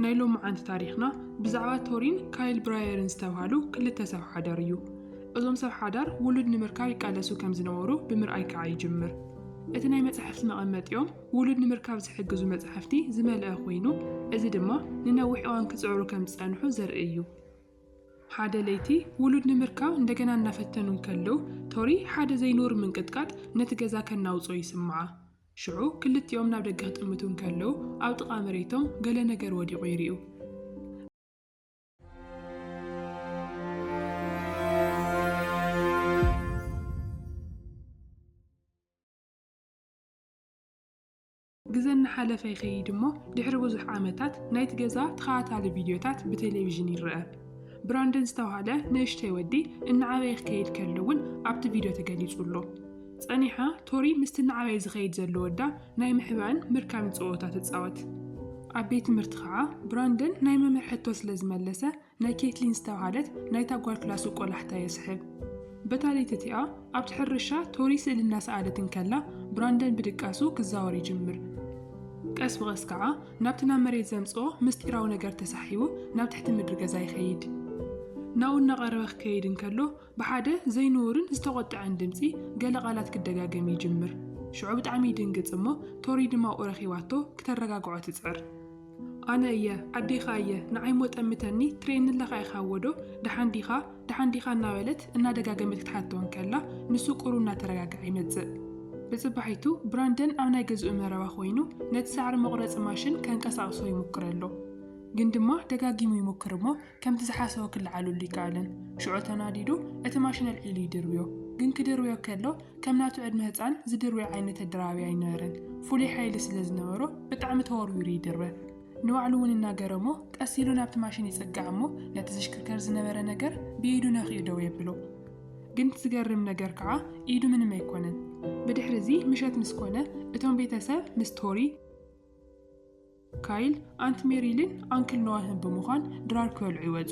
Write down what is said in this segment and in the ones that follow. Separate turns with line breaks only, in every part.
ናይ ሎምዓንቲ ታሪኽና ብዛዕባ ቶሪን ካይል ብራየርን ዝተብሃሉ ክልተ ሰብ ሓዳር እዩ። እዞም ሰብ ሓዳር ውሉድ ንምርካብ ይቃለሱ ከም ዝነበሩ ብምርኣይ ከኣ ይጅምር። እቲ ናይ መጻሕፍቲ መቐመጢኦም ውሉድ ንምርካብ ዝሕግዙ መጻሕፍቲ ዝመልኣ ኰይኑ፣ እዚ ድማ ንነዊሕ እዋን ክጽዕሩ ከም ዝጸንሑ ዘርኢ እዩ። ሓደ ለይቲ ውሉድ ንምርካብ እንደገና እናፈተኑ እንከለዉ፣ ቶሪ ሓደ ዘይንቡር ምንቅጥቃጥ ነቲ ገዛ ከናውጾ ይስምዓ። ሽዑ ክልቲኦም ናብ ደገ ክጥምቱ እንከለዉ፣ ኣብ ጥቓ መሬቶም ገለ ነገር ወዲቑ ይርእዩ። ግዘ እናሓለፈ ይኸይድ እሞ ድሕሪ ብዙሕ ዓመታት ናይቲ ገዛ ተኸታታሊ ቪድዮታት ብቴሌቪዥን ይረኣ። ብራንደን ዝተባህለ ንእሽተይ ወዲ እናዓበየ ክከይድ ከሎ እውን ኣብቲ ቪድዮ ተገሊጹ ኣሎ። ጸኒሓ ቶሪ ምስቲ እናዓበየ ዝኸይድ ዘሎ ወዳ ናይ ምሕባእን ምርካብን ጸወታ ትጻወት። ኣብ ቤት ትምህርቲ ኸኣ ብራንደን ናይ መምህር ሕቶ ስለ ዝመለሰ ናይ ኬትሊን ዝተብሃለት ናይታ ጓል ክላሱ ቆላሕታ የስሕብ። በታ ለይቲ እቲኣ ኣብቲ ሕርሻ ቶሪ ስእሊ እናሰኣለት እንከላ ብራንደን ብድቃሱ ክዛወር ይጅምር። ቀስ ብቐስ ከኣ ናብቲ ናብ መሬት ዘምጽኦ ምስጢራዊ ነገር ተሳሒቡ ናብ ትሕቲ ምድሪ ገዛ ይኸይድ። ናብኡ እናቐረበ ክከይድ እንከሎ ብሓደ ዘይንቡርን ዝተቖጥዐን ድምጺ ገለ ቃላት ክደጋገም ይጅምር። ሽዑ ብጣዕሚ ይድንግጽ እሞ ቶሪ ድማኡ ረኺባቶ ክተረጋግዖ ትጽዕር። ኣነ እየ፣ ኣዴኻ እየ፣ ንዓይሞ ጠምተኒ፣ ትርእየኒ'ለኻ ኢኻዎ'ዶ፣ ደሓን ዲኻ፣ ደሓን ዲኻ እናበለት እናደጋገመት ክትሓቶ እንከላ ንሱ ቁሩ እናተረጋግዐ ይመጽእ። ብጽባሒቱ ብራንደን ኣብ ናይ ገዝኡ መረባ ኮይኑ ነቲ ሳዕሪ መቑረጺ ማሽን ከንቀሳቕሶ ይሙክር ኣሎ። ግን ድማ ደጋጊሙ ይሙክር እሞ ከምቲ ዝሓሰቦ ክለዓለሉ ኣይከኣለን። ሽዑ ተናዲዱ እቲ ማሽን ኣልዒሉ ይድርብዮ። ግን ክድርብዮ ከሎ ከም ናቱ ዕድመ ህጻን ዝድርብዮ ዓይነት ኣደራባቢ ኣይነበረን። ፍሉይ ሓይሊ ስለ ዝነበሮ ብጣዕሚ ተወርዊሩ ይድርበ። ንባዕሉ እውን እናገረሞ ቀስ ኢሉ ናብቲ ማሽን ይጽጋዕ እሞ ነቲ ዝሽክርከር ዝነበረ ነገር ብኢዱ ነኪኡ ደው የብሎ። ግን እቲ ዝገርም ነገር ከዓ ኢዱ ምንም ኣይኮነን። ብድሕሪ እዚ ምሸት ምስ ኮነ እቶም ቤተሰብ ምስ ቶሪ፣ ካይል፣ ኣንት ሜሪልን ኣንክል ኖዋህን ብምዃን ድራር ክበልዑ ይወጹ።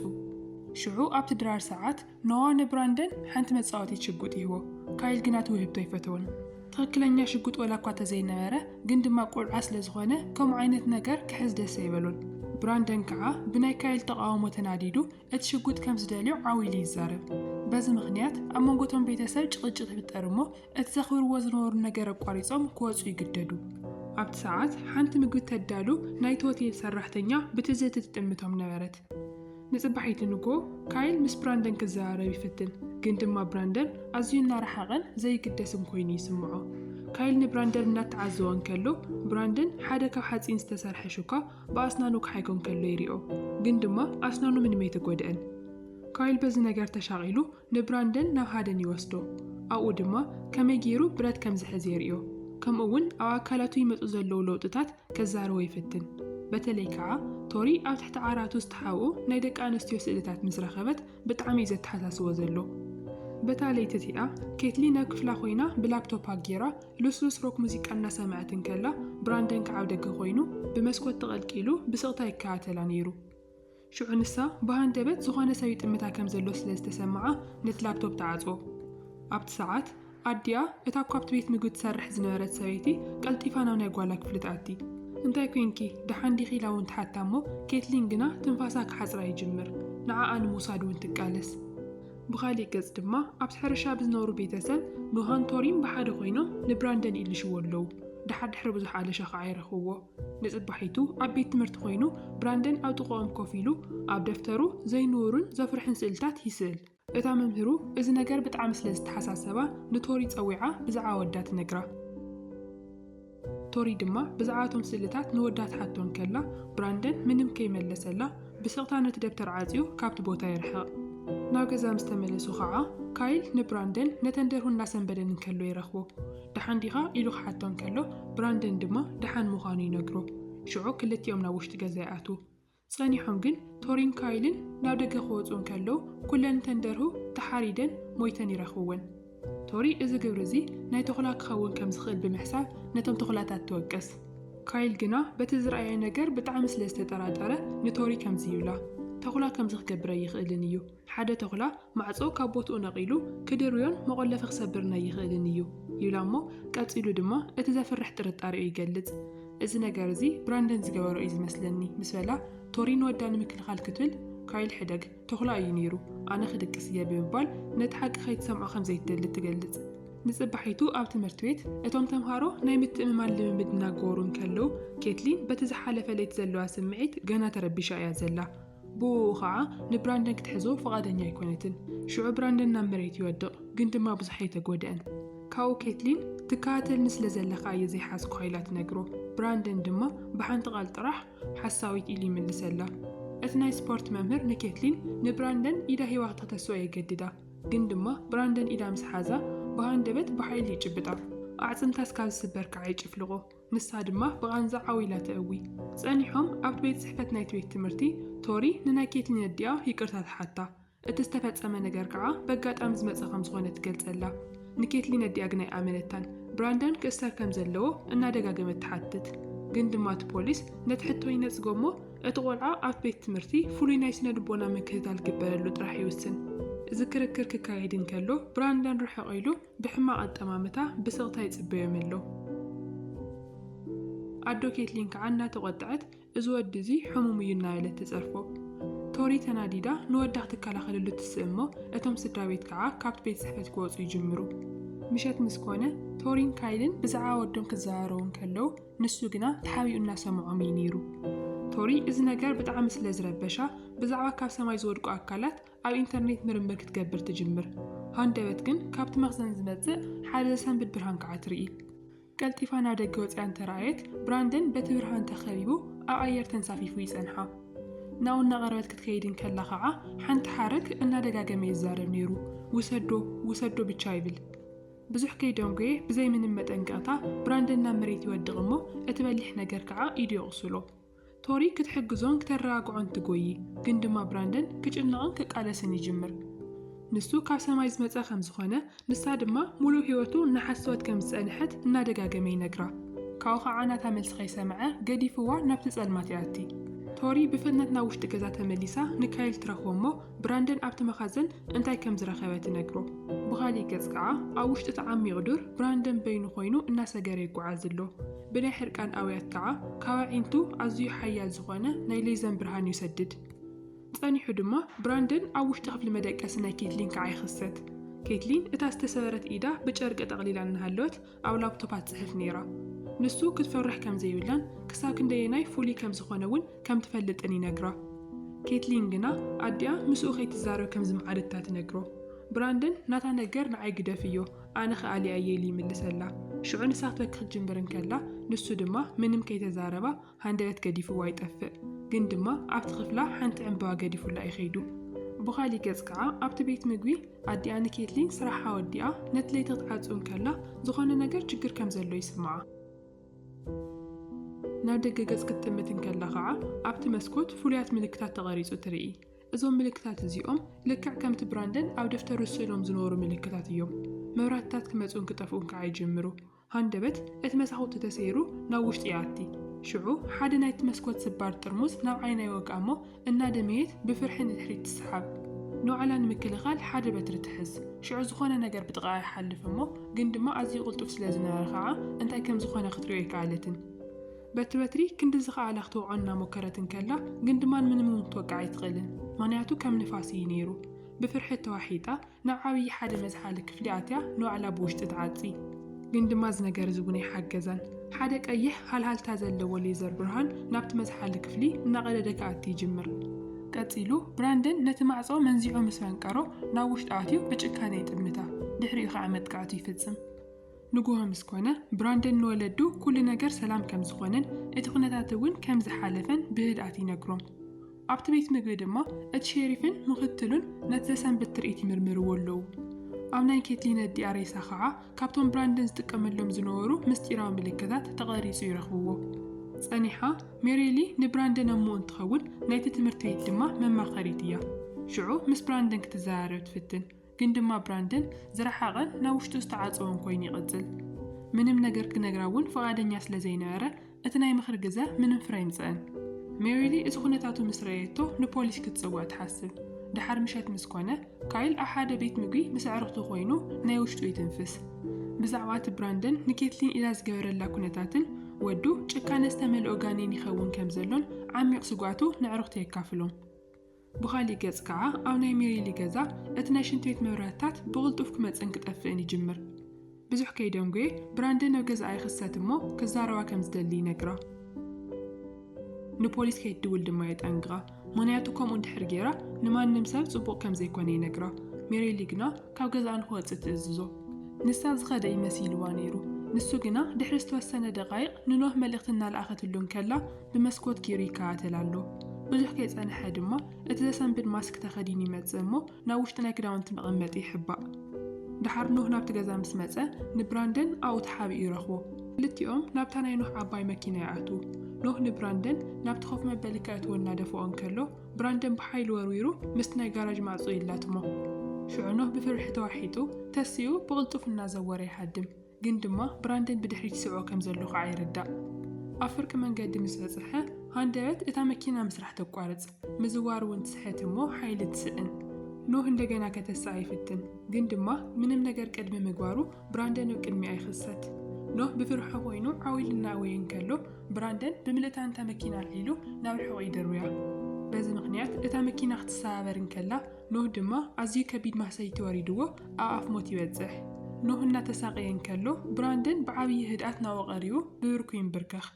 ሽዑ ኣብቲ ድራር ሰዓት፣ ኖዋ ንብራንደን ሓንቲ መጻወቲት ሽጉጥ ይህቦ። ካይል ግና እቲ ውህብቶ ኣይፈተዎን። ትኽክለኛ ሽጉጥ ወላኳ ተዘይነበረ፣ ግን ድማ ቆልዓ ስለ ዝኾነ ከምኡ ዓይነት ነገር ክሕዝ ደስ ኣይበሎን። ብራንደን ከዓ ብናይ ካይል ተቓውሞ ተናዲዱ እቲ ሽጉጥ ከም ዝደልዮ ዓው ኢሉ ይዛረብ። በዚ ምኽንያት ኣብ መንጎ እቶም ቤተሰብ ጭቕጭቕ ይፍጠር እሞ እቲ ዘኽብርዎ ዝነበሩ ነገር ኣቋሪጾም ክወጹ ይግደዱ። ኣብቲ ሰዓት ሓንቲ ምግቢ ተዳሉ ናይቲ ሆቴል ሰራሕተኛ ብትዝህቲ ትጥምቶም ነበረት። ንጽባሒቱ ንግሆ ካይል ምስ ብራንደን ክዘራረብ ይፍትን፣ ግን ድማ ብራንደን ኣዝዩ እናረሓቐን ዘይግደስን ኮይኑ ይስምዖ። ካይል ንብራንደን እናተዓዘቦ እንከሎ፣ ብራንደን ሓደ ካብ ሓጺን ዝተሰርሐ ሹካ ብኣስናኑ ክሓይኮ እንከሎ ይሪኦ፣ ግን ድማ ኣስናኑ ምንም ኣይተጎድኣን። ካይል በዚ ነገር ተሻቒሉ ንብራንደን ናብ ሃደን ይወስዶ፣ ኣብኡ ድማ ከመይ ገይሩ ብረት ከም ዝሕዝ የርእዮ፣ ከምኡ'ውን ኣብ ኣካላቱ ይመጹ ዘለዉ ለውጥታት ከዛርቦ ይፍትን። በተለይ ከኣ ቶሪ ኣብ ትሕቲ ዓራቱ ዝተሓብኡ ናይ ደቂ ኣንስትዮ ስእልታት ምስ ረኸበት ብጣዕሚ'ዩ ዘተሓሳስቦ ዘሎ። በታ ለይቲ እቲኣ፣ ኬትሊን ኣብ ክፍላ ኮይና ብላፕቶፓ ገይራ ልስሉስ ሮክ ሙዚቃ እናሰምዐት እንከላ፣ ብራንደን ከኣ ኣብ ደገ ኮይኑ ብመስኮት ተቐልቂሉ ብስቕታ ይከታተላ ነይሩ። ሽዑ ንሳ ብሃንደበት ዝኾነ ሰብ ይጥምታ ከም ዘሎ ስለ ዝተሰምዓ ነቲ ላፕቶፕ ትዓጽዎ። ኣብቲ ሰዓት፣ ኣዲኣ እታ እኳ ኣብቲ ቤት ምግቢ ትሰርሕ ዝነበረት ሰበይቲ ቀልጢፋ ናብ ናይ ጓላ ክፍሊ ትኣቲ። እንታይ ኰይንኪ? ደሓን ዲኺ? ኢላ እውን ትሓታ እሞ ኬትሊን ግና ትንፋሳ ክሓጽራ ይጅምር። ንዓኣ ንምውሳድ እውን ትቃለስ። ብኻሊእ ገጽ ድማ ኣብቲ ሕርሻ ብዝነብሩ ቤተሰብ ኖሃን ቶሪን ብሓደ ኰይኖም ንብራንደን ይእልሽዎ ኣለዉ። ደሓር ድሕሪ ብዙሕ ኣለሻ ኸኣ ይረኽብዎ። ንጽባሒቱ ኣብ ቤት ትምህርቲ ዀይኑ፣ ብራንደን ኣብ ጥቓኦም ኮፍ ኢሉ፣ ኣብ ደፍተሩ ዘይንቡርን ዘፍርሕን ስእልታት ይስእል። እታ መምህሩ እዚ ነገር ብጣዕሚ ስለ ዝተሓሳሰባ፣ ንቶሪ ጸዊዓ ብዛዕባ ወዳ ትነግራ። ቶሪ ድማ ብዛዕባ እቶም ስእልታት ንወዳ ትሓቶ እንከላ፣ ብራንደን ምንም ከይመለሰላ፣ ብስቕታ ነቲ ደብተር ዓጽዩ ካብቲ ቦታ ይርሕቕ። ናብ ገዛ ምስ ተመለሱ ኸኣ፣ ካይል ንብራንደን ነተን ደርሁ እናሰንበደን እንከሎ ይረኽቦ። ደሓን ዲኻ? ኢሉ ክሓቶ እንከሎ፣ ብራንደን ድማ ደሓን ምዃኑ ይነግሮ። ሽዑ ክልቲኦም ናብ ውሽጢ ገዛ ይኣትዉ። ጸኒሖም ግን ቶሪን ካይልን ናብ ደገ ክወጹ እንከለዉ፣ ኩለን እተን ደርሁ ተሓሪደን ሞይተን ይረኽብወን። ቶሪ እዚ ግብሪ እዚ ናይ ተኹላ ክኸውን ከም ዝኽእል ብምሕሳብ ነቶም ተኹላታት ትወቅስ። ካይል ግና በቲ ዝረኣየ ነገር ብጣዕሚ ስለ ዝተጠራጠረ ንቶሪ ከምዚ ይብላ፣ ተኹላ ከምዚ ክገብር ኣይኽእልን እዩ። ሓደ ተዅላ ማዕጾ ካብ ቦትኡ ነቒሉ ክድርብዮን መቖለፊ ክሰብርን ኣይኽእልን እዩ ይብላ እሞ ቀጺሉ ድማ እቲ ዘፍርሕ ጥርጣሬኡ ይገልጽ። እዚ ነገር እዚ ብራንደን ዝገበሮ እዩ ዝመስለኒ ምስ በላ ቶሪ ንወዳ ንምክልኻል ክትብል ካይል ሕደግ ተዅላ እዩ ነይሩ ኣነ ክድቅስ እየ ብምባል ነቲ ሓቂ ከይትሰምዖ ከም ዘይትደሊ ትገልጽ። ንጽባሒቱ ኣብ ትምህርቲ ቤት እቶም ተምሃሮ ናይ ምትእምማን ልምምድ እናገበሩ እንከለዉ ኬትሊን በቲ ዝሓለፈ ለይቲ ዘለዋ ስምዒት ገና ተረቢሻ እያ ዘላ። ብኡኡ ኸዓ ንብራንደን ክትሕዞ ፍቓደኛ ኣይኮነትን። ሽዑ ብራንደን ናብ መሬት ይወድቕ፣ ግን ድማ ብዙሕ ኣይተጎድኣን። ካብኡ ኬትሊን፣ ትከታተልኒ ስለ ዘለኻ እየ ዘይሓዝኩኻ ኢላ ትነግሮ። ብራንደን ድማ ብሓንቲ ቓል ጥራሕ ሓሳዊት ኢሉ ይምልሰላ። እቲ ናይ ስፖርት መምህር ንኬትሊን ንብራንደን ኢዳ ሂባ ክትክተስኦ የገድዳ፣ ግን ድማ ብራንደን ኢዳ ምስ ሓዛ ብሃንደበት ብሓይሊ ይጭብጣ፣ ኣዕጽምታ እስካብ ዝስበር ከዓ ይጭፍልቖ። ንሳ ድማ ብቓንዛ ዓው ኢላ ተእዊ። ጸኒሖም ኣብቲ ቤት ጽሕፈት ናይቲ ቤት ትምህርቲ፣ ቶሪ ንናይ ኬትሊን ኣዲኣ ይቅርታ ትሓታ። እቲ ዝተፈጸመ ነገር ከኣ በጋጣሚ ዝመጸ ከም ዝኾነ ትገልጸላ። ንኬትሊን ኣዲኣ ግን ኣይኣመነታን። ብራንደን ክእሰር ከም ዘለዎ እናደጋገመት ትሓትት። ግን ድማ እቲ ፖሊስ ነቲ ሕቶ ይነጽጎ እሞ እቲ ቆልዓ ኣብቲ ቤት ትምህርቲ ፍሉይ ናይ ስነ ልቦና ምክትታል ክግበረሉ ጥራሕ ይውስን። እዚ ክርክር ክካየድ እንከሎ ብራንደን ርሕቕ ኢሉ ብሕማቕ ኣጠማምታ ብስቕታ ይጽበዮም ኣሎ። ኣዶ ኬትሊን ከኣ እናተቖጠዐት እዚ ወዲ እዚ ሕሙም እዩ እናበለት ትጸርፎ። ቶሪ ተናዲዳ ንወዳ ክትከላኸለሉ ትስእ እሞ እቶም ስድራቤት ከኣ ካብቲ ቤት ጽሕፈት ክወጹ ይጅምሩ። ምሸት ምስ ኮነ ቶሪን ካይልን ብዛዕባ ወዶም ክዘራረቡ እንከለዉ ንሱ ግና ተሓቢኡ እናሰምዖም እዩ ነይሩ። ቶሪ እዚ ነገር ብጣዕሚ ስለ ዝረበሻ ብዛዕባ ካብ ሰማይ ዝወድቁ ኣካላት ኣብ ኢንተርኔት ምርምር ክትገብር ትጅምር። ሃንደበት ግን ካብቲ መኽዘን ዝመጽእ ሓደ ዘሰንብድ ብርሃን ከኣ ትርኢ። ቀልጢፋ ናብ ደገ ወጺኣ እንተ ረኣየት፣ ብራንደን በቲ ብርሃን ተኸቢቡ ኣብ ኣየር ተንሳፊፉ ይጸንሓ። ናብኡ እናቐረበት ክትከይድ እንከላ ኸኣ ሓንቲ ሓረግ እናደጋገመ ይዛረብ ነይሩ፣ ውሰዶ! ውሰዶ! ብቻ ይብል። ብዙሕ ከይደንጎየ ብዘይ ምንም መጠንቀቕታ ብራንደን ናብ መሬት ይወድቕ እሞ እቲ በሊሕ ነገር ከኣ ኢዱ የቑስሎ። ቶሪ ክትሕግዞን ክተረጋግዖን ትጎዪ፣ ግን ድማ ብራንደን ክጭነቕን ክቃለስን ይጅምር። ንሱ ካብ ሰማይ ዝመጸ ከም ዝኾነ፣ ንሳ ድማ ምሉእ ህይወቱ እናሓሰወት ከም ዝጸንሐት እናደጋገመ ይነግራ። ካብኡ ኸኣ ናታ መልሲ ከይሰምዐ ገዲፍዋ ናብቲ ጸልማት ይኣቲ። ቶሪ ብፍጥነት ናብ ውሽጢ ገዛ ተመሊሳ ንካይል ትረኽቦ እሞ ብራንደን ኣብቲ መኻዘን እንታይ ከም ዝረኸበ ትነግሮ። ብኻሊእ ገጽ ከኣ ኣብ ውሽጢ እቲ ዓሚቕ ዱር ብራንደን በይኑ ኮይኑ እናሰገረ ይጎዓዝ ኣሎ። ብናይ ሕርቃን ኣውያት ከኣ ካብ ኣዒንቱ ኣዝዩ ሓያል ዝኾነ ናይ ሌዘን ብርሃን ይሰድድ። ጸኒሑ ድማ ብራንደን ኣብ ውሽጢ ክፍሊ መደቀሲ ናይ ኬትሊን ከኣ ይኽሰት። ኬትሊን እታ ዝተሰበረት ኢዳ ብጨርቂ ጠቕሊላ እናሃለወት ኣብ ላፕቶፓ ትጽሕፍ ነይራ። ንሱ ክትፈርሕ ከም ዘይብላን ክሳብ ክንደየናይ ፍሉይ ከም ዝኾነ እውን ከም ትፈልጥን ይነግራ። ኬትሊን ግና ኣዲኣ ምስኡ ከይትዛረብ ከም ዝመዓደታ ትነግሮ። ብራንደን ናታ ነገር ንዓይ ግደፍዮ፣ ኣነ ኸኣ ኣልያየ ኢሉ ይምልሰላ። ሽዑ ንሳ ክትበኪ ክትጅምር እንከላ፣ ንሱ ድማ ምንም ከይተዛረባ ሃንደበት ገዲፍዋ ይጠፍእ። ግን ድማ ኣብቲ ክፍላ ሓንቲ ዕምበባ ገዲፉላ እዩ ከይዱ። ብኻሊእ ገጽ ከኣ ኣብቲ ቤት ምግቢ ኣዲኣ ንኬትሊን ስራሓ ወዲኣ ነቲ ለይቲ ክትዓጹ እንከላ ዝኾነ ነገር ችግር ከም ዘሎ ይስምዓ። ናብ ደገ ገጽ ክትጥምት እንከላ ከኣ ኣብቲ መስኮት ፍሉያት ምልክታት ተቐሪጹ ትርኢ። እዞም ምልክታት እዚኦም ልክዕ ከምቲ ብራንደን ኣብ ደፍተሩ ስእሎም ዝነበሩ ምልክታት እዮም። መብራህትታት ክመጽኡን ክጠፍኡን ከኣ ይጅምሩ። ሃንደበት እቲ መሳዅቲ ተሰይሩ ናብ ውሽጢ ይኣቲ። ሽዑ ሓደ ናይቲ መስኮት ስባር ጥርሙዝ ናብ ዓይና ይወግኣ እሞ እናደመየት ብፍርሒ ንድሕሪት ትስሓብ። ንባዕላ ንምክልኻል ሓደ በትሪ ትሕዝ። ሽዑ ዝኾነ ነገር ብጥቓኣ ይሓልፍ እሞ ግን ድማ ኣዝዩ ቅልጡፍ ስለ ዝነበረ ከኣ እንታይ ከም ዝኾነ ክትሪኦ ኣይከኣለትን። በቲ በትሪ ክንዲ ዝኸኣላ ክትወቕዖ እናሞከረት እንከላ ግን ድማን ምንም እውን ክትወቅዕ ኣይትኽእልን ምኽንያቱ ከም ንፋስ እዩ ነይሩ። ብፍርሒ ተዋሒጣ ናብ ዓብዪ ሓደ መዝሓሊ ክፍሊ ኣትያ ንባዕላ ብውሽጢ ትዓጺ። ግን ድማ እዚ ነገር እዚ እውን ኣይሓገዛን። ሓደ ቀይሕ ሃልሃልታ ዘለዎ ሌዘር ብርሃን ናብቲ መዝሓሊ ክፍሊ እናቐደደ ክኣቲ ይጅምር። ቀጺሉ ብራንደን ነቲ ማዕጾ መንዚዑ ምስ ፈንቀሮ ናብ ውሽጢ ኣትዩ ብጭካነ ይጥምታ። ድሕሪኡ ከዓ መጥቃዕቱ ይፍጽም። ንጉሆ ምስ ኮነ፣ ብራንደን ንወለዱ ኵሉ ነገር ሰላም ከም ዝዀነን እቲ ዅነታት እውን ከም ዝሓለፈን ብህድኣት ይነግሮም። ኣብቲ ቤት ምግቢ ድማ እቲ ሼሪፍን ምኽትሉን ነቲ ዘሰንብድ ትርኢት ይምርምርዎ ኣለዉ። ኣብ ናይ ኬትሊን ኣዲኣ ሬሳ ኸኣ ካብቶም ብራንደን ዝጥቀመሎም ዝነበሩ ምስጢራዊ ምልክታት ተቐሪጹ ይረኽብዎ። ጸኒሓ፣ ሜሪሊ ንብራንደን ኣሞኡ እንትኸውን ናይቲ ትምህርቲ ቤት ድማ መማኸሪት እያ። ሽዑ ምስ ብራንደን ክትዘራረብ ትፍትን። ግን ድማ ብራንደን ዝረሓቐን ናብ ውሽጡ ዝተዓጸወን ኮይኑ ይቕጽል። ምንም ነገር ክነግራ እውን ፍቓደኛ ስለ ዘይነበረ፣ እቲ ናይ ምኽሪ ግዘ ምንም ፍረ ኣይምጸእን። ሜሪሊ እቲ ኩነታቱ ምስ ረኣየቶ ንፖሊስ ክትጽውዕ ትሓስብ። ደሓር ምሸት ምስ ኮነ፣ ካይል ኣብ ሓደ ቤት ምግቢ ምስ ኣዕርኽቱ ኮይኑ ናይ ውሽጡ ይትንፍስ። ብዛዕባ እቲ ብራንደን ንኬትሊን ኢላ ዝገበረላ ኩነታትን ወዱ ጭካነ ዝተመልኦ ጋኔን ይኸውን ከም ዘሎን ዓሚቕ ስግኣቱ ነዕርኽቱ የካፍሎም። ብኻሊእ ገፅ ከዓ ኣብ ናይ ሜሪሊ ገዛ እቲ ናይ ሽንት ቤት መብራህትታት ብቕልጡፍ ክመፅእን ክጠፍእን ይጅምር። ብዙሕ ከይደንጎየ ብራንደን ኣብ ገዝኣ ይኽሰት እሞ ክዛረባ ከም ዝደሊ ይነግራ። ንፖሊስ ከይትድውል ድማ የጠንቅቓ፣ ምኽንያቱ ከምኡ እንድሕር ገይራ ንማንም ሰብ ፅቡቕ ከም ዘይኮነ ይነግራ። ሜሪሊ ግና ካብ ገዝኣ ንክወፅእ ትእዝዞ። ንሳ ዝኸደ እዩ መሲልዋ ነይሩ። ንሱ ግና ድሕሪ ዝተወሰነ ደቓይቕ ንኖህ መልእኽቲ እናልኣኸትሉ እንከላ ብመስኮት ጌሩ ይከታተል ኣሎ። ብዙሕ ከይጸንሐ ድማ እቲ ዘሰንብድ ማስክ ተኸዲኑ ይመጽእ እሞ ናብ ውሽጢ ናይ ክዳውንቲ መቐመጢ ይሕባእ። ደሓር ኖህ ናብቲ ገዛ ምስ መጸ ንብራንደን ኣብኡ ተሓቢኡ ይረኽቦ። ክልቲኦም ናብታ ናይ ኖህ ዓባይ መኪና ይኣትዉ። ኖህ ንብራንደን ናብቲ ኮፍ መበሊ ከእትዎ እናደፍኦ እንከሎ ብራንደን ብሓይሊ ወርዊሩ ምስቲ ናይ ጋራጅ ማዕጾ ይላትሞ። ሽዑ ኖህ ብፍርሒ ተዋሒጡ ተሲኡ ብቕልጡፍ እናዘወረ ይሃድም። ግን ድማ ብራንደን ብድሕሪት ይስዕቦ ከም ዘሎ ኸኣ ይርዳእ። ኣብ ፍርቂ መንገዲ ምስ በጽሐ፣ ሃንደበት እታ መኪና ምስራሕ ተቋርጽ፣ ምዝዋር እውን ትስሕት እሞ ሓይሊ ትስእን። ኖህ እንደገና ከተስኣ ይፍትን፣ ግን ድማ ምንም ነገር ቅድሚ ምግባሩ ብራንደን ኣብ ቅድሚኣ ይኽሰት። ኖህ ብፍርሑ ኰይኑ ዓው ኢሉ እናእወየ እንከሎ፣ ብራንደን ብምልእታ ነታ መኪና ኣልዒሉ ናብ ርሑቕ ይድርብያ። በዚ ምኽንያት እታ መኪና ክትሰባበር እንከላ፣ ኖህ ድማ ኣዝዩ ከቢድ ማህሰይቲ ወሪድዎ ኣብ ኣፍ ሞት ይበጽሕ። ኖህ እናተሳቐየ እንከሎ፣ ብራንደን ብዓብዪ ህድኣት ናብኡ ቀሪቡ ብብርኩ ይምብርከኽ።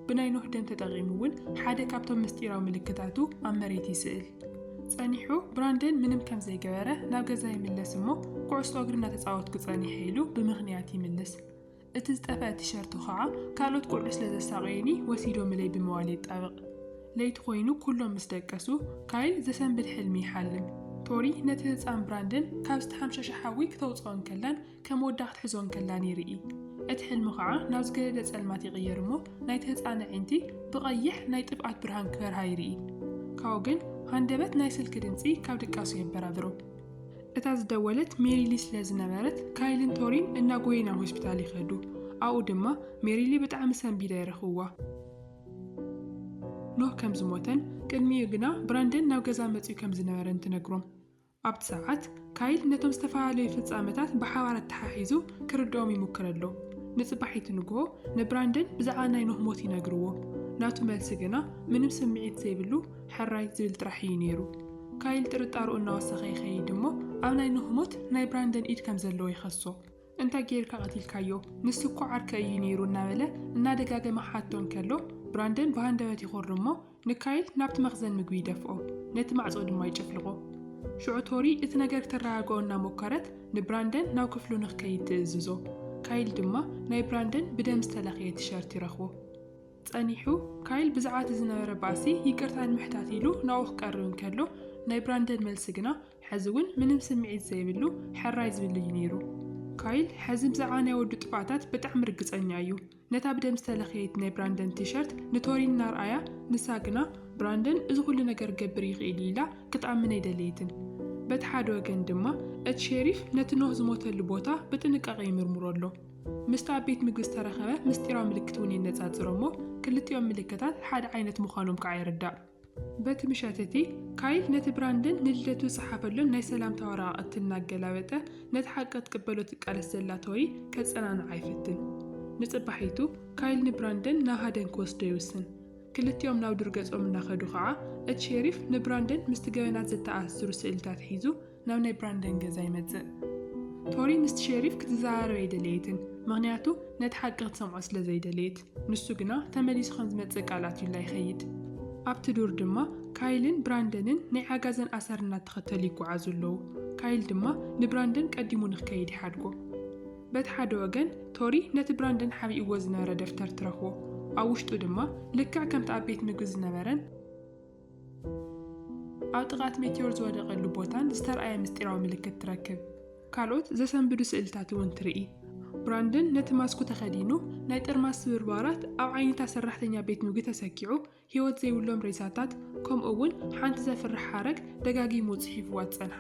ብናይ ኖህ ደም ተጠቒሙ እውን ሓደ ካብቶም ምስጢራዊ ምልክታቱ ኣብ መሬት ይስእል። ጸኒሑ ብራንደን ምንም ከም ዘይገበረ ናብ ገዛ ይምለስ እሞ፣ ኩዕሶ እግሪ እናተጻወትኩ ጸኒሐ ኢሉ ብምኽንያት ይምልስ። እቲ ዝጠፍኣ ቲሸርቱ ኸዓ ካልኦት ቆልዑ ስለ ዘሳቐዩኒ ወሲዶምለይ ብምባል የጣብቕ። ለይቲ ኰይኑ ኵሎም ምስ ደቀሱ፣ ካይል ዘሰንብድ ሕልሚ ይሓልም። ቶሪ ነቲ ህጻን ብራንደን ካብ ዝተሓምሸሸ ሓዊ ክተውጽኦ እንከላን ከም ወዳ ክትሕዞ እንከላን ይርኢ። እቲ ሕልሚ ኸዓ ናብ ዝገደደ ጸልማት ይቕየር እሞ ናይቲ ህጻን ኣዒንቲ ብቐይሕ ናይ ጥፍኣት ብርሃን ክበርሃ ይርኢ። ካብኡ ግን ሃንደበት ናይ ስልኪ ድምጺ ካብ ድቃሱ የበራብሮ። እታ ዝደወለት ሜሪሊ ስለ ዝነበረት፣ ካይልን ቶሪን እናጎየዩ ናብ ሆስፒታል ይኸዱ። ኣብኡ ድማ ሜሪሊ ብጣዕሚ ሰንቢዳ ይረኽብዋ። ኖህ ከም ዝሞተን ቅድሚኡ ግና ብራንደን ናብ ገዛ መጺኡ ከም ዝነበረን ትነግሮም። ኣብቲ ሰዓት ካይል ነቶም ዝተፈላለዩ ፍጻመታት ብሓባር ኣተሓሒዙ ክርድኦም ይሙክር ኣሎ። ንጽባሒቱ ንግሆ ንብራንደን ብዛዕባ ናይ ኖህ ሞት ይነግርዎ። ናቱ መልሲ ግና ምንም ስምዒት ዘይብሉ ሕራይ ዝብል ጥራሕ እዩ ነይሩ። ካይል ጥርጣረኡ እናወሰኸ ይኸይድ እሞ ኣብ ናይ ኖህ ሞት ናይ ብራንደን ኢድ ከምዘለዎ ይኸሶ። እንታይ ገይርካ ቀቲልካዮ? ንሱ እኮ ዓርከይ እዩ ነይሩ እናበለ እናደጋገመ ክሓቶ እንከሎ ብራንደን ብሃንደበት ይኹሪ እሞ ንካይል ናብቲ መኽዘን ምግቢ ይደፍኦ። ነቲ ማዕጾ ድማ ይጭፍልቖ። ሽዑ ቶሪ እቲ ነገር ክተረጋግኦ እናሞከረት ንብራንደን ናብ ክፍሉ ንክከይድ ትእዝዞ። ካይል ድማ ናይ ብራንደን ብደም ዝተለኽየ ቲሸርት ይረኽቦ። ጸኒሑ፣ ካይል ብዛዕባ እቲ ዝነበረ ባእሲ ይቅርታ ንምሕታት ኢሉ ናብኡ ክቀርብ እንከሎ፣ ናይ ብራንደን መልሲ ግና ሕዚ እውን ምንም ስምዒት ዘይብሉ ሕራይ ዝብል እዩ ነይሩ። ካይል ሕዚ ብዛዕባ ናይ ወዱ ጥፍኣታት ብጣዕሚ ርግጸኛ እዩ። ነታ ብደም ዝተለኽየት ናይ ብራንደን ቲሸርት ንቶሪን እናርኣያ፣ ንሳ ግና ብራንደን እዚ ኩሉ ነገር ክገብር ይኽእል እዩ ኢላ ክትኣምን ኣይደለየትን። በቲ ሓደ ወገን ድማ እቲ ሼሪፍ ነቲ ኖህ ዝሞተሉ ቦታ ብጥንቃቐ ይምርምሮ ኣሎ። ምስቲ ኣብ ቤት ምግቢ ዝተረኸበ ምስጢራዊ ምልክት እውን የነጻጽሮ እሞ፣ ክልቲኦም ምልክታት ሓደ ዓይነት ምዃኖም ከኣ ይርዳእ። በቲ ምሸት እቲ፣ ካይል ነቲ ብራንደን ንልደቱ ዝጸሓፈሉን ናይ ሰላምታ ወረቓቕቲ እናገላበጠ፣ ነቲ ሓቂ ክትቅበሎ ትቃለስ ዘላ ቶሪ ከጸናንዓ ይፍትን። ንጽባሒቱ፣ ካይል ንብራንደን ናብ ሃደን ክወስዶ ይውስን። ክልቲኦም ናብ ዱር ገጾም እናኸዱ ከኣ፣ እቲ ሼሪፍ ንብራንደን ምስቲ ገበናት ዘተኣሳስሩ ስእልታት ሒዙ፣ ናብ ናይ ብራንደን ገዛ ይመጽእ። ቶሪ ምስቲ ሼሪፍ ክትዘራረብ ኣይደለየትን፣ ምኽንያቱ ነቲ ሓቂ ክትሰምዖ ስለ ዘይደለየት። ንሱ ግና ተመሊሱ ከም ዝመጽእ ቃል ኣትዩላ ይኸይድ። ኣብቲ ዱር ድማ ካይልን ብራንደንን ናይ ዓጋዘን ኣሰር እናተኸተሉ ይጓዓዙ ኣለዉ። ካይል ድማ ንብራንደን ቀዲሙ ንክከይድ ይሓድጎ። በቲ ሓደ ወገን ቶሪ ነቲ ብራንደን ሓቢእዎ ዝነበረ ደፍተር ትረኽቦ። ኣብ ውሽጡ ድማ ልክዕ ከምቲ ኣብ ቤት ምግቢ ዝነበረን፣ ኣብ ጥቓ እቲ ሜትዮር ዝወደቐሉ ቦታን ዝተርኣየ ምስጢራዊ ምልክት ትረክብ። ካልኦት ዘሰንብዱ ስእልታት እውን ትርኢ። ብራንደን ነቲ ማስኩ ተኸዲኑ ናይ ጥርማስ ስብርባራት ኣብ ዓይነታ ሰራሕተኛ ቤት ምግቢ ተሰኪዑ ህይወት ዘይብሎም ሬሳታት ከምኡ እውን ሓንቲ ዘፍርሕ ሓረግ ደጋጊሙ ጽሒፍዋ ዝጸንሓ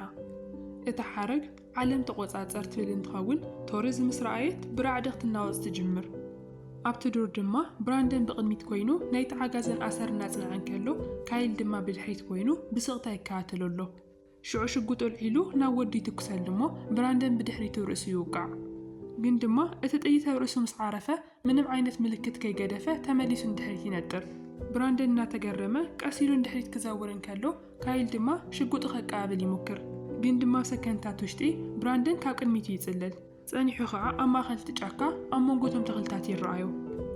እታ ሓረግ ዓለም ተቖጻጸር ትብል እንትኸውን፣ ቶርዝ ምስ ረኣየት ብራዕዲ ክትናወጽ ትጅምር። ኣብቲ ዱር ድማ ብራንደን ብቕድሚት ኮይኑ ናይቲ ዓጋዘን ኣሰር እናጽንዐ እንከሎ፣ ካይል ድማ ብድሕሪት ኮይኑ ብስቕታ ይከታተሎ ኣሎ። ሽዑ ሽጉጡ ኣልዒሉ ናብ ወዱ ይትኩሰሉ እሞ ብራንደን ብድሕሪቱ ርእሱ ይውቃዕ። ግን ድማ እቲ ጥይት ኣብ ርእሱ ምስ ዓረፈ ምንም ዓይነት ምልክት ከይገደፈ ተመሊሱ ንድሕሪት ይነጥር። ብራንደን እናተገረመ ቀስ ኢሉ ንድሕሪት ክዘውር እንከሎ፣ ካይል ድማ ሽጉጡ ከቀባብል ይሙክር። ግን ድማ ሰከንድታት ውሽጢ፣ ብራንደን ካብ ቅድሚቱ ይጽልል። ጸኒሑ ኸኣ ኣብ ማእከል እቲ ጫካ ኣብ መንጎ እቶም ተኽልታት ይረኣዮ።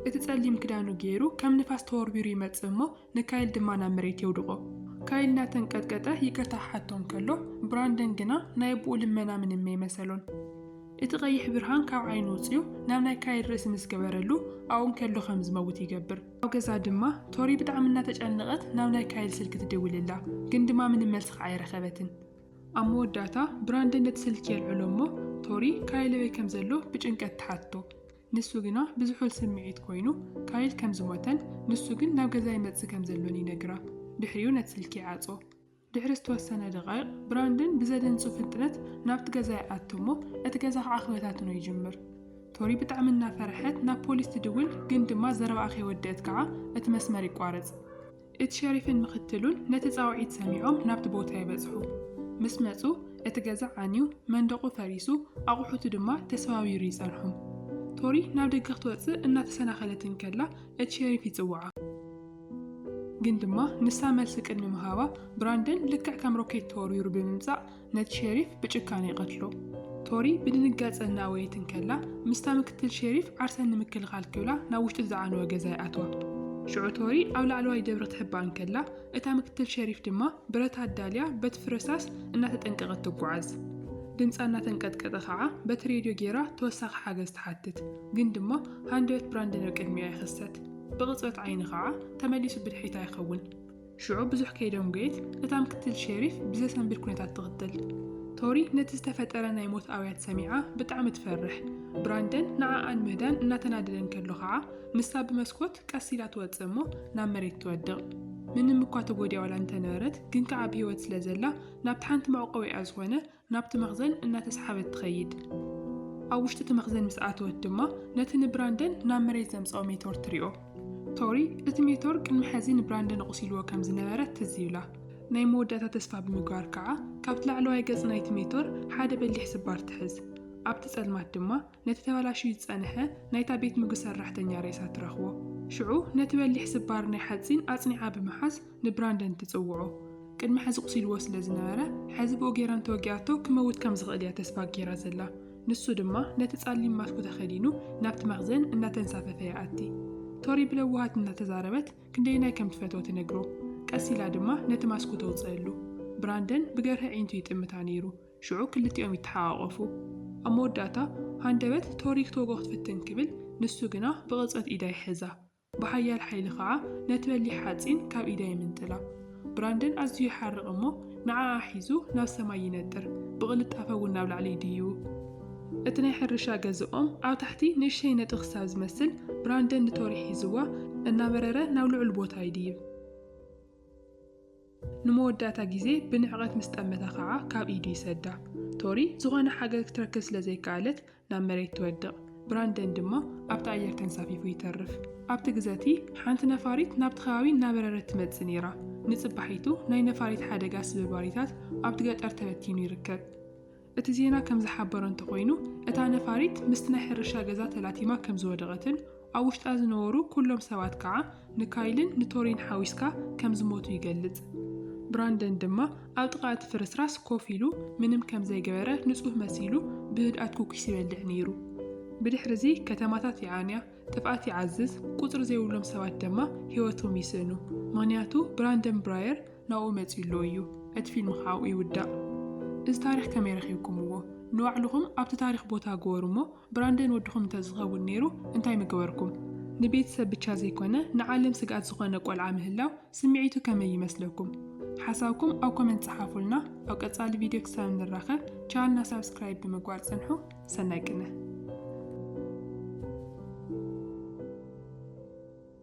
እቲ ጸሊም ክዳኑ ገይሩ ከም ንፋስ ተወርዊሩ ይመጽእ እሞ ንካይል ድማ ናብ መሬት የውድቖ። ካይል እናተንቀጥቀጠ ይቅርታ ክሓቶ እንከሎ፣ ብራንደን ግና ናይ ኣቦኡ ልመና ምንም ኣይመሰሎን። እቲ ቀይሕ ብርሃን ካብ ዓይኑ ውጺኡ ናብ ናይ ካይል ርእሲ ምስ ገበረሉ፣ ኣብኡ እንከሎ ከም ዝመውት ይገብር። ኣብ ገዛ ድማ ቶሪ ብጣዕሚ እናተጨነቐት ናብ ናይ ካይል ስልኪ ትድውልላ፣ ግን ድማ ምንም መልሲ ከዓ ኣይረኸበትን። ኣብ መወዳእታ ብራንደን ነቲ ስልኪ የልዕሎ እሞ፣ ቶሪ ካይል ኣበይ ከም ዘሎ ብጭንቀት ትሓትቶ። ንሱ ግና ብዝሑል ስምዒት ኰይኑ፣ ካይል ከም ዝሞተን ንሱ ግን ናብ ገዛ ይመጽእ ከም ዘሎን ይነግራ። ድሕሪኡ ነቲ ስልኪ ይዓጽዎ። ድሕሪ ዝተወሰነ ደቓይቕ፣ ብራንደን ብዘደንጹ ፍጥነት ናብቲ ገዛ ይኣቱ እሞ እቲ ገዛ ኸኣ ክበታትኖ ይጅምር። ቶሪ ብጣዕሚ እናፈርሐት ናብ ፖሊስ ትድውል፣ ግን ድማ ዘረባኣ ከይወደእት ከኣ እቲ መስመር ይቋረጽ። እቲ ሸሪፍን ምኽትሉን ነቲ ጻውዒት ሰሚዖም ናብቲ ቦታ ይበጽሑ። ምስ መጹ እቲ ገዛ ዓንዩ፣ መንደቑ ፈሪሱ፣ ኣቑሑቱ ድማ ተሰባቢሩ ይጸንሑ። ቶሪ ናብ ደገ ክትወጽእ እናተሰናኸለት እንከላ እቲ ሸሪፍ ይጽውዓ። ግን ድማ ንሳ መልሲ ቅድሚ ምሃባ ብራንደን ልክዕ ከም ሮኬት ተወርዊሩ ብምምጻእ ነቲ ሸሪፍ ብጭካነ ይቐትሎ። ቶሪ ብድንጋጸ እናወየት እንከላ፣ ምስታ ምክትል ሸሪፍ ዓርሰን ንምክልኻል ክብላ ናብ ውሽጢ ዝዓነወ ገዛ ይኣትዋ። ሽዑ ቶሪ ኣብ ላዕለዋይ ደብሪ ክትሕባእ እንከላ፣ እታ ምክትል ሸሪፍ ድማ ብረት ኣዳልያ በቲ ፍረሳስ እናተጠንቀቐት ትጓዓዝ። ድምጻ እናተንቀጥቀጠ ኸኣ በቲ ሬድዮ ጌራ ተወሳኺ ሓገዝ ትሓትት። ግን ድማ ሃንደበት ብራንደን ኣብ ቅድሚኣ ይኽሰት። ብቕጽበት ዓይኒ ኸኣ ተመሊሱ ብድሕሪታ ይኸውን። ሽዑ ብዙሕ ከይደንጎየት እታ ምክትል ሸሪፍ ብዘሰንብድ ኩነታት ትቕትል። ቶሪ ነቲ ዝተፈጠረ ናይ ሞት ኣውያት ሰሚዓ ብጣዕሚ ትፈርሕ። ብራንደን ንዓኣ ንምህዳን እናተናደደ እንከሎ ኸዓ ንሳ ብመስኮት ቀስ ኢላ ትወጽእ እሞ ናብ መሬት ትወድቕ። ምንም እኳ ተጎዲኣ ዋላ እንተነበረት ግን ከዓ ብህይወት ስለዘላ ናብቲ ሓንቲ መዕቆቢኣ ዝኾነ ናብቲ መኽዘን እናተስሓበት ትኸይድ። ኣብ ውሽጢ እቲ መኽዘን ምስ ኣተወት ድማ ነቲ ንብራንደን ናብ መሬት ዘምጽኦ ሜቶር ትሪኦ። ቶሪ እቲ ሜቶር ቅድሚ ሕዚ ንብራንደን ኣቑሲልዎ ከም ዝነበረ ትዝ ይብላ። ናይ መወዳእታ ተስፋ ብምግባር ከኣ ካብቲ ላዕለዋይ ገጽ ናይቲ ሜቶር ሓደ በሊሕ ስባር ትሕዝ። ኣብቲ ጸልማት ድማ ነቲ ተበላሽዩ ዝጸንሐ ናይታ ቤት ምግቢ ሰራሕተኛ ሬሳ ትረኽቦ። ሽዑ ነቲ በሊሕ ስባር ናይ ሓጺን ኣጽኒዓ ብምሓዝ ንብራንደን ትጽውዖ። ቅድሚ ሕዚ ቁሲልዎ ስለ ዝነበረ፣ ሕዚ ብኡ ጌራ እንተወጊኣቶ ክመውት ከም ዝኽእል እያ ተስፋ ጌራ ዘላ። ንሱ ድማ ነቲ ጸሊም ማስኩ ተኸዲኑ ናብቲ መኽዘን እናተንሳፈፈ ይኣቲ። ቶሪ ብለውሃት እናተዛረበት ክንደየናይ ከም ትፈትዎ ትነግሮ። ቀስ ኢላ ድማ ነቲ ማስኩ ተውጽእሉ። ብራንደን ብገርሂ ኣዒንቱ ይጥምታ ነይሩ። ሽዑ ክልቲኦም ይተሓቛቖፉ። ኣብ መወዳእታ ሃንደበት ቶሪክቶጎ ክትፍትን ክብል፣ ንሱ ግና ብቕጽበት ኢዳ ይሕዛ። ብሓያል ሓይሊ ኸኣ ነቲ በሊሕ ሓጺን ካብ ኢዳ ይምንጥላ። ብራንደን ኣዝዩ ይሓርቕ እሞ ንዓኣ ሒዙ ናብ ሰማይ ይነጥር፣ ብቕልጣፈ እውን ናብ ላዕሊ ይድይቡ። እቲ ናይ ሕርሻ ገዝኦም ኣብ ታሕቲ ንእሽተይ ነጥቢ ክሳብ ዝመስል፣ ብራንደን ንቶሪ ሒዝዋ እናበረረ ናብ ልዑል ቦታ ይድይብ። ንመወዳእታ ግዜ ብንዕቐት ምስ ጠመታ ኸኣ ካብ ኢዱ ይሰዳ። ቶሪ ዝኾነ ሓገዝ ክትረክብ ስለ ዘይከኣለት ናብ መሬት ትወድቕ፣ ብራንደን ድማ ኣብቲ ኣየር ተንሳፊፉ ይተርፍ። ኣብቲ ግዘ እቲ ሓንቲ ነፋሪት ናብቲ ከባቢ እናበረረት ትመጽእ ነይራ። ንጽባሒቱ ናይ ነፋሪት ሓደጋ ስብርባሪታት ኣብቲ ገጠር ተበቲኑ ይርከብ። እቲ ዜና ከም ዝሓበሮ እንተኾይኑ፣ እታ ነፋሪት ምስቲ ናይ ሕርሻ ገዛ ተላቲማ ከም ዝወደቐትን ኣብ ውሽጣ ዝነበሩ ኩሎም ሰባት ከኣ ንካይልን ንቶሪን ሓዊስካ ከም ዝሞቱ ይገልጽ። ብራንደን ድማ ኣብ ጥቓ እቲ ፍርስራስ ኮፍ ኢሉ ምንም ከም ዘይገበረ ንጹህ መሲሉ ብህድኣት ኩኪስ ይበልዕ ነይሩ። ብድሕርዚ ከተማታት ይዓንያ፣ ጥፍኣት ይዓዝዝ፣ ቁጽሪ ዘይብሎም ሰባት ደማ ህይወቶም ይስእኑ። ምኽንያቱ ብራንደን ብራየር ናብኡ መጺኡ ኣሎ እዩ እቲ ፊልም ኸኣ ኣብኡ ይውዳእ። እዚ ታሪኽ ከመይ ረኺብኩምዎ? ንባዕልኹም ኣብቲ ታሪኽ ቦታ ግበሩ እሞ ብራንደን ወድኹም እንተዝኸውን ነይሩ እንታይ ምገበርኩም? ንቤተሰብ ብቻ ዘይኮነ ንዓለም ስግኣት ዝኾነ ቆልዓ ምህላው ስምዒቱ ከመይ ይመስለኩም? ሓሳብኩም ኣብ ኮመንት ጸሓፉልና ኣብ ቀጻሊ ቪድዮ ክሳብ ንራኸብ ቻልና ሳብስክራይብ ብምግባር ጽንሑ ሰናይ ቅነ።